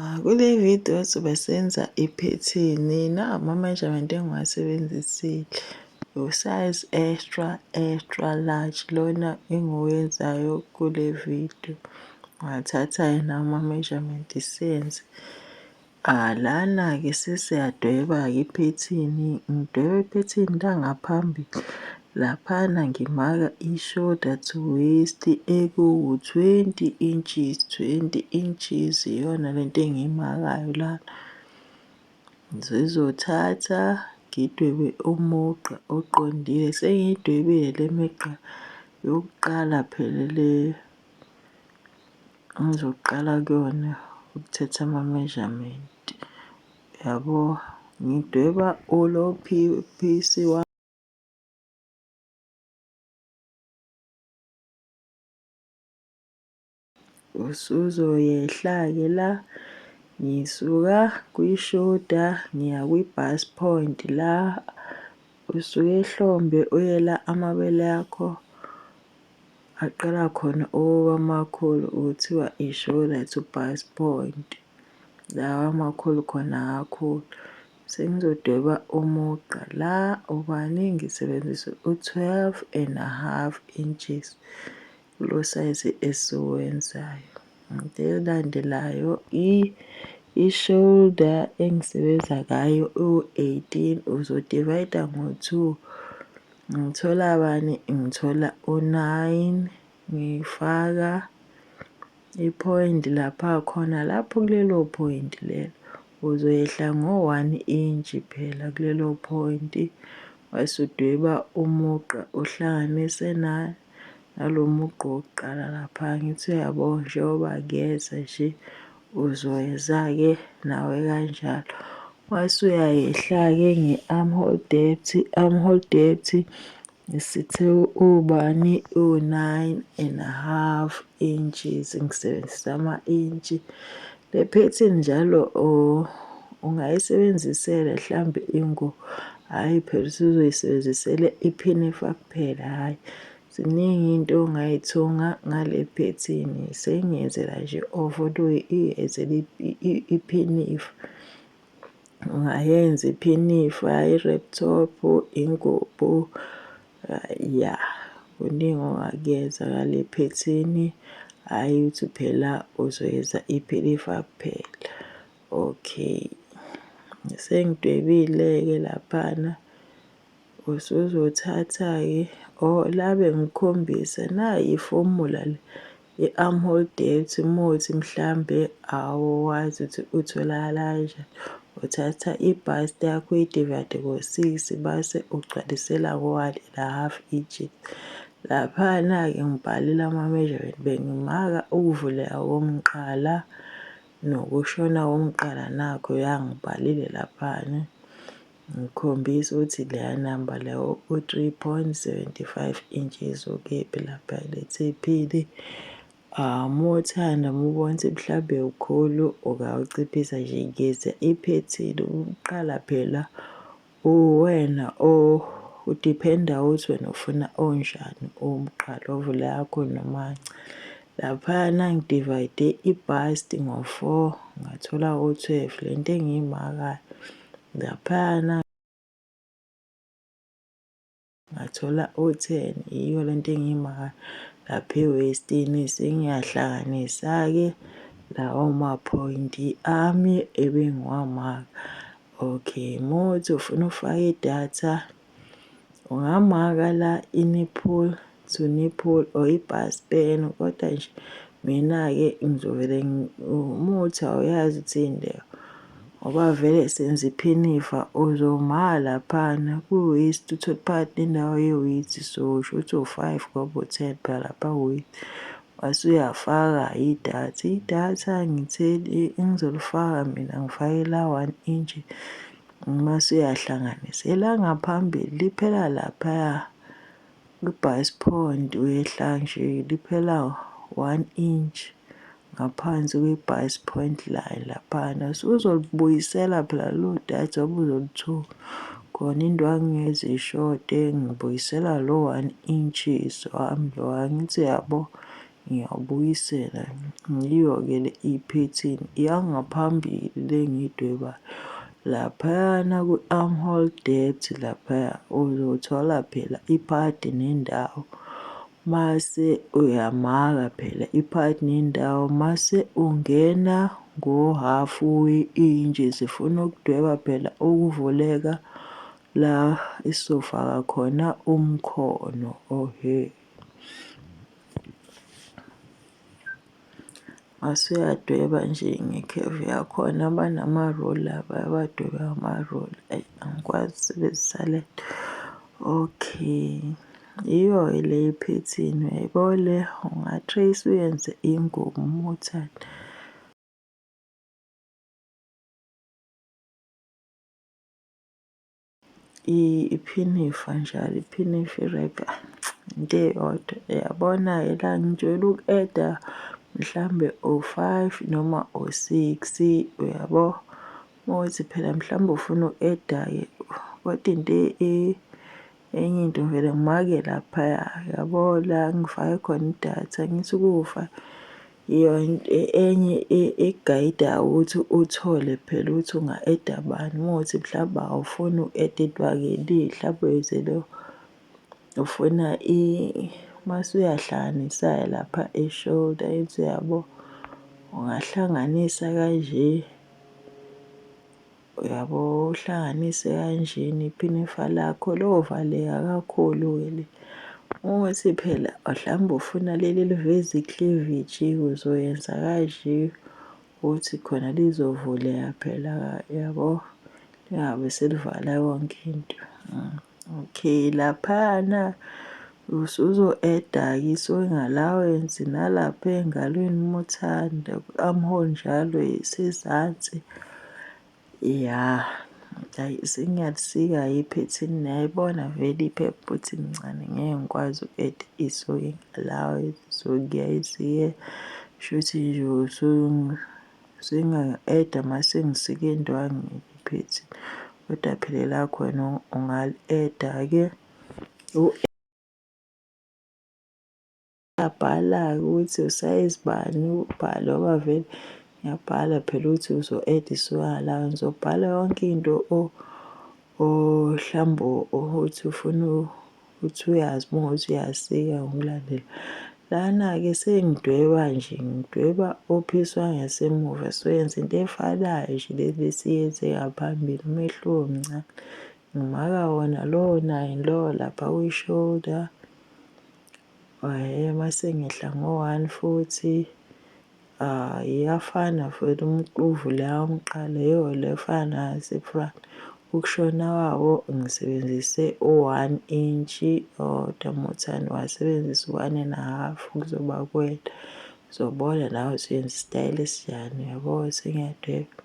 Ah, kule video sobe senza iphethini na ama-measurement engiwasebenzisile usize extra extra large lona engiwenzayo kule video ngathatha yena ama-measurement senze ah lana-ke sesiyadweba-ke iphethini ngidweba iphethini langaphambili Laphana ngimaka ishoda to waist ekuwu 20 inches 20 inches iyona lento engiyimakayo lana. Ngizozothatha ngidwebe umugqa oqondile sengiyidwebile le migqa yokuqala phela le ngizoqala kuyona ukuthatha ama measurement yabo ngidweba ulo phisi wami. usuzoyehla-ke la ngisuka kwishoda ngiya kwi-bus point la usuke ehlombe uye la amabele akho aqala khona ukuba makhulu kuthiwa ishoda to bus point. Lawa amakhulu khona kakhulu. Sengizodweba umugqa la ubani ngisebenzise u-12 and a half inches kulo sayizi esiwenzayo. Into elandelayo i-shoulder engisebenza ngayo u-18 uzodivayida ngo-2 ngithola bani ngithola u-9. Ngifaka i-point lapha khona lapho kulelo point lelo. Uzoyehla ngo-one inch phela kulelo point wase udweba umugqa uhlanganise na nalo mugqa wokuqala lapha ngithi uyabo njengoba kuyeza nje uzoyeza-ke nawe kanjalo. Wase uyayehla-ke nge-armhole depth, armhole depth Sithe ubani uwu-nine and a half inches, ngisebenzisa ama-intshi. Le phethini njalo ungayisebenzisela hlambe ingu, hhayi phela usuzoyisebenzisela iphinifa kuphela, hhayi. Ziningi iy'nto ongay'thunga ngale phethini, sengiyenzela nje ovodo, ngiyenzela iphinifa. Ungayenza iphinifa, i-rap top, ingubo, ya kuningi ongakuyenza ngale phethini, hhayi ukuthi phela uzoyenza iphinifa kuphela. Okay, sengidwebile-ke laphana. Usuzothatha-ke o la bengikhombisa nayi ifomula le i-armhole depth uma uthi mhlambe awazi ukuthi utholakala kanjani. Uthatha i-bust yakho uyi-divide ngo-six base ugcwalisela ngo-one and a half inches. Laphana-ke ngibhalile ama-measurement bengimaka ukuvuleka komqala nokushona komqala nakhu ya ngibhalile laphana. Ngikhombisa ukuthi leya namba leyo u-3.75 inches ukephi lapha ethephini. Uma uthanda uma ubona ukuthi mhlawumbe ukhulu ungawuciphisa nje ngeza iphethini ukuqala phela uwena udiphenda ukuthi wena ufuna onjani umqala ovula yakho noma cha. Laphayana ngidivayide i-bust ngo-four ngathola u-twelve le nto engiyimakayo. Laphayana ngathola o-ten yiyo le nto engiyimaka lapha ewestini sengiyahlanganisa-ke lawo maphoyinti ami ebengiwamaka okay muthi ufuna ufake idatha Ungamaka la i-nipple to nipple or i-bust pen kodwa nje mina-ke ngizovele umuthi awuyazi ukuthi yini leyo ngoba vele senza iphinifa uzoma laphana ku-waist uthole phakathi nendawo ye-waist so shuthi uwu-five ngoba uwu-ten phela lapha ku-waist mase uyafaka idatha. Idatha ngitheni ngizolifaka mina ngifake la one inch. Uma suyahlanganisa, elangaphambili liphela laphaya kwi-base point uyehla nje liphela one inch ngaphansi kwi-base point line laphana. So uzolibuyisela phela lelo data obuzolithola khona indwangu ngezishode ngibuyisela lo one inches wami lo angithi yabo Ngiyawubuyisela. Yiyo-ke le iphethini yangaphambili le engiyidwebayo. Laphayana kwi-armhole depth laphaya uzothola phela iphadi nendawo. Mase uyamaka phela iphadi nendawo mase ungena ngohafu we-intshi. Sifuna ukudweba phela ukuvuleka la esizofaka khona umkhono. Ohhe. Mase uyadweba nje ngekhefu yakhona banama-rula bayabadweba ngama-rula. Ayi angikwazi ukusebenzisa le nto. Okay, yiyo-ke le yephethini uyayibona le, unga-trace-a uyenze ingubo uma uthanda. Iphini ifa njalo, iphini ifa irekha into eyodwa. Uyabona-ke la ngijwayele uku-eda mhlawumbe o-five noma o-six-i, uyabo? Uma kuwukuthi phela mhlawumbe ufuna uku-eda-ke kodwa into enye into ngivele ngimake laphaya, uyabo? La engifake khona idatha angithi ukufa Enye igayida ukuthi uthole phela ukuthi unga-eda bani. Uma kuwukuthi mhlawumbe awufuni uku-edidwa akeli, mhlawumbe uyozele ufuna mase uyahlanganisa-ke lapha e-shoulder into yabo, ungahlanganisa kanje. Uyabo uhlanganise kanjena iphini ifa lakho lovaleka kakhulu ke le. Ukuthi phela mhlawumbe ufuna leli eliveza ikleveji uzoyenza kanje ukuthi khona lizovuleka phela yabo. Lingabe selivala yonke into . Okay, laphana usuzo-add-ke i-sewing allowance nalapha ey'ngalweni uma uthanda ku-armhole njalo isezansi. Ya, hhayi sengiyakusika-ke iphethini niyayibona vele iphepha ukuthi lincane ngeke ngikwazi uku-add-a i-sewing allowance so ngiyayisika shuthi nje . Zingangi-add-a masengisike indwangu ngiphethe kodwa phela elakho wena ungali-add-a-ke. Uyabhala-ke ukuthi usayizi bani, ubhale ngoba vele ngiyabhala phela ukuthi uzo-add-a isiwalo. Ngizobhala yonke into mhlawumbe othi ufuna uthi uyazi uma ungathi uyasika ngokulandela lana-ke sengidweba nje ngidweba ophiswa ngesemuva soyenza into efanayo nje le besiyenze ngaphambili umehluko mncane ngimaka wona lowo naye lowo lapha kwi-shoulder waye mase ngehla ngo-one futhi Aah iyafana mfwethu umquvu le awumqale yoo lefana sifront ukushona wawo ngisebenzise u one inch owodwa muthani wasebenzisa u one and a half kuzoba kuwena uzobona nawe usuyenza isitayela esinjani uyabo sengiyadweba.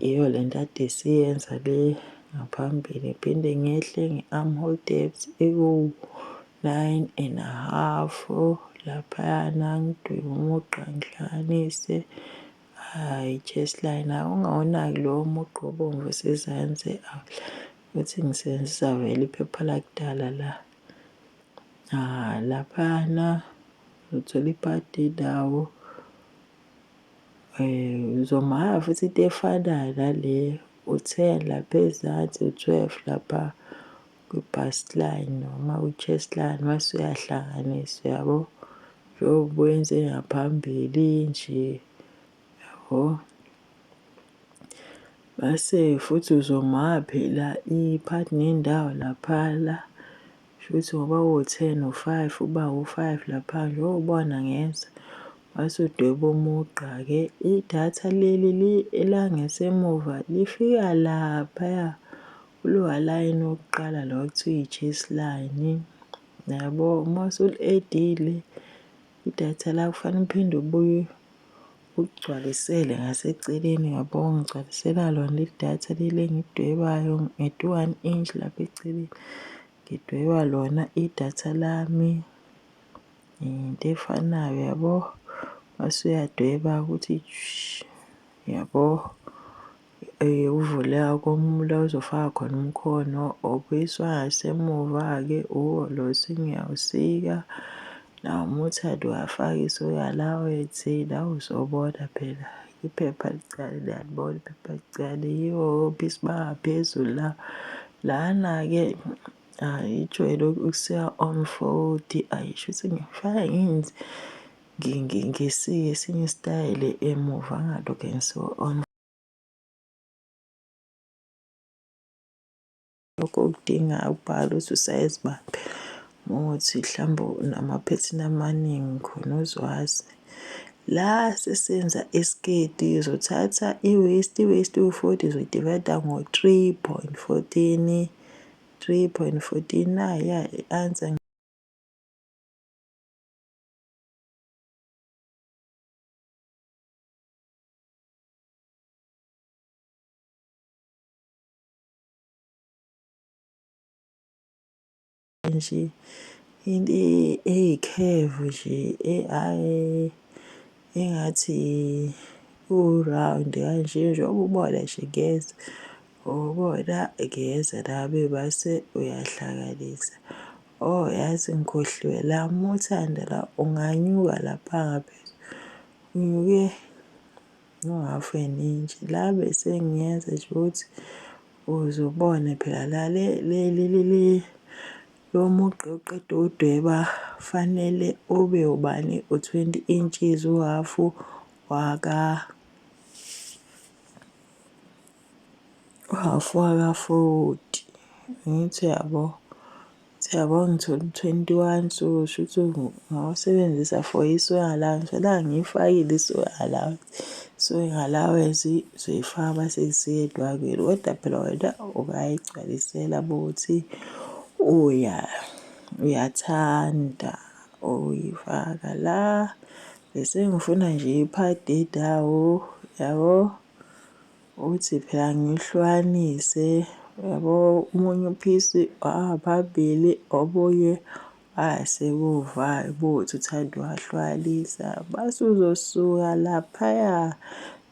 Yiyo le nto ade siyenza le ngaphambili, ngiphinde ngehle nge-arm hold depth ewu-nine and a half laphayana ngidwebe umugqa ngihlanganise hhayi chest line hhayi ungawunaki lowo mugqa obomvu osezansi ukuthi ngisebenzisa vele iphepha lakudala la laphayana uthola ipati indawo. Eh, uzomuhaya futhi into efanayo nale u-ten lapha ezansi u-twelve lapha kwi-bust line noma kwi-chest line mase uyahlanganisa yabo njengoba wenze ngaphambili nje yabo. Mase futhi uzomuhaya phela i-part nendawo lapha la. Shuthi ngoba wo 10 u 5 uba u 5 lapha nje wo bona ngeza wase udweba umugqa ke idatha leli li elangesemuva lifika lapha ya kulowa line wokuqala lo kuthiwa i chase line yabo uma usul edile idatha la kufanele uphinde ubuye Ugcwalisele ngaseceleni yabo ngigcwalisela lona idatha leli engidwebayo ngithi one inch lapha eceleni ngidweba lona idatha lami into efanayo yabo mase uyadweba ukuthi yabo. Uvule akomula uzofaka khona umkhono obuyiswa ngasemuva-ke uhholo usuke uyawusika. Nawo uma uthanda uwafaka isuka la wethi la uzobona phela iphepha likaChali uyalibona iphepha likaChali yiwo obisi bangaphezulu la. Lana-ke hhayi ijwayele ukusika omu-forty, ayi shuthi ngifaka . Ngisiye esinye isitayela emuva ngalokhe ngisiwa on. Lokho kudinga ubhale ukuthi usayizi bani ukuthi mhlawumbe unamaphethini amaningi khona uzwazi. La sesenza isiketi uzothatha i-waist, i-waist iwu-forty uzoyidivayida ngo-three point fourteen, three point fourteen, nayi-ke i-answer. nje into eyikhevu nje eyi engathi u-round kanje njengoba ubona nje ngeza ubona ngeza nami base uyahlakanisa. Oh yazi ngikhohliwe la uma uthanda la unganyuka lapha ngaphezulu unyuke no-half an inch la besengiyenza nje ukuthi uzobone phela la le leli leli lo mugqa oqeda udweba fanele ube ubani u-20 inches uhafu waka Uhhafu waka-forty, angithi uyabo? Ukuthi uyabo ngithole u-twenty one so shuthi ngawasebenzisa for i-soy allowance. Kodwa angiyifakile i-soy allowance, i-soy allowance uzoyifaka mase isiya etwaleni. Kodwa phela wena ungayigcwalisela uma kuwukuthi uyathanda ukuyifaka la. Bese ngifuna nje i-part edawo, uyabo? Uthi phela ngihlukanise yabo omunye uphisi ababili obunye asemuva ubuthi uthanda uwahlukanisa. Mase uzosuka laphaya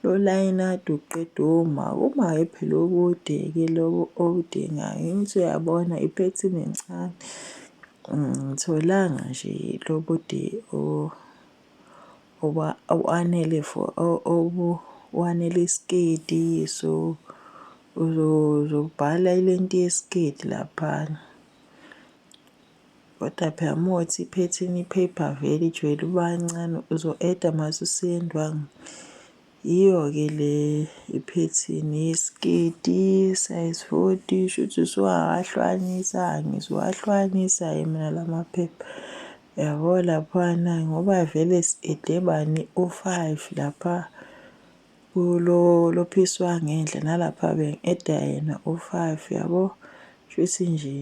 lolayini kade uqeda uma, uma hhayi phela okude-ke loko okudingayo. Angithi uyabona iphethini encane, angilitholanga nje lobude . Ngoba awanele for awanele isiketi so uzobhala ilenti yesiketi laphana. Kodwa phela uma kuwukuthi iphethini iphepha vele ijwayele ukuba ncane uzo-eda mase useyendwangu. Yiyo-ke le iphethini isiketi size 40 shuthi suwawahlwanisa ngizowahlwanisa ke mina lamaphepha yabo laphana ngoba vele sidebani u-5 lapha kulo lophisi wangendle nalapha bengeda yena u-5 yabo shuthi nje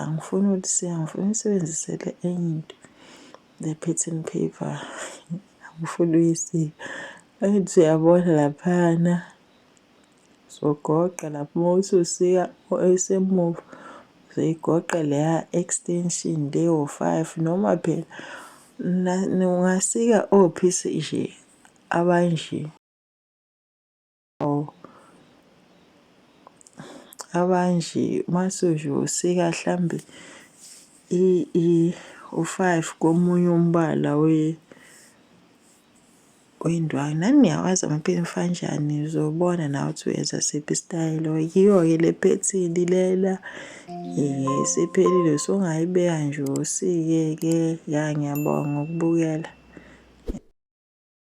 angifuni ukuthi sengifuna isebenzisele enye into The pattern paper angifuni uyisiwe angithi uyabona laphana uzogoqa lapho uma uthi usika esemuva uzoyigoqa leya extension leyo five noma phela ungasika ophisi nje abanje. Awu abanje masuju usika hlambe i i u-5 komunye umbala we wendwangu nani niyawazi amaphini fanjani uzobona nawe ukuthi uyenza siphi isitayela yiyo-ke le phethini lena isiphelile usungayibeka nje usike-ke ya ngiyabonga ukubukela.